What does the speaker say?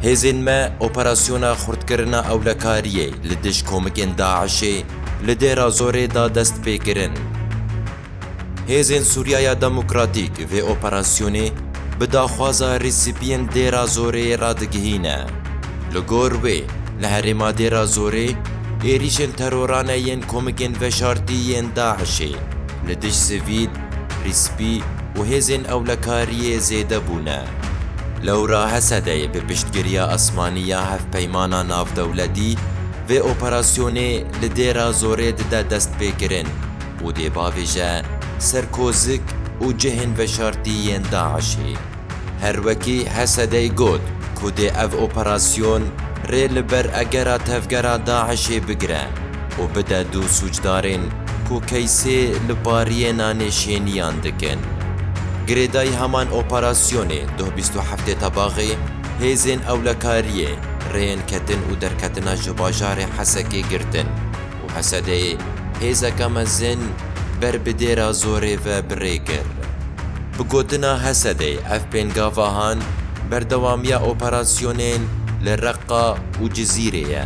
Hêzên me operasyona xurtkirina ewlekariyê li dij komikên DAIŞ'ê li Dêra Zorê da destpêkirin. Hêzên Sûriyaya Demokratîk vê operasyonê bi daxwaza rîspiyên Dêra Zoreyê re digihîne. Li gor wê li herêma Dêra Zorê êrîşên terorane yên komikên veşartî yên DAIŞ'ê li dij sivîl, Prîspî û hêzên ewlekariyê zêde bûne. Lewra Hesedeyê bi piştgiriya esmanî ya Hevpeymana Navdewletî vê operasyonê li Dêra Zorê dide destpêkirin û dê bavêje ser kozik û cihên veşartî yên DAIŞ'ê. Her wekî Hesedey got ku dê ev operasyon rê li ber egera tevgera DAIŞ'ê bigire û bide du sûcdarên ku keysê li pariyê nanêşêniyan dikin. Girêdayî heman operasyonê doh bîst û heftê Tebaxê hêzên ewlekariyê rêyên ketin û derketina ji bajarê Hesekê girtin. Û Hesedê hêzeke mezin ber bi dêra zorê ve bi rê kir. Bi gotina Hesedê ev pêngavahan berdewamiya operasyonên li Reqqa û Cizîrê ye.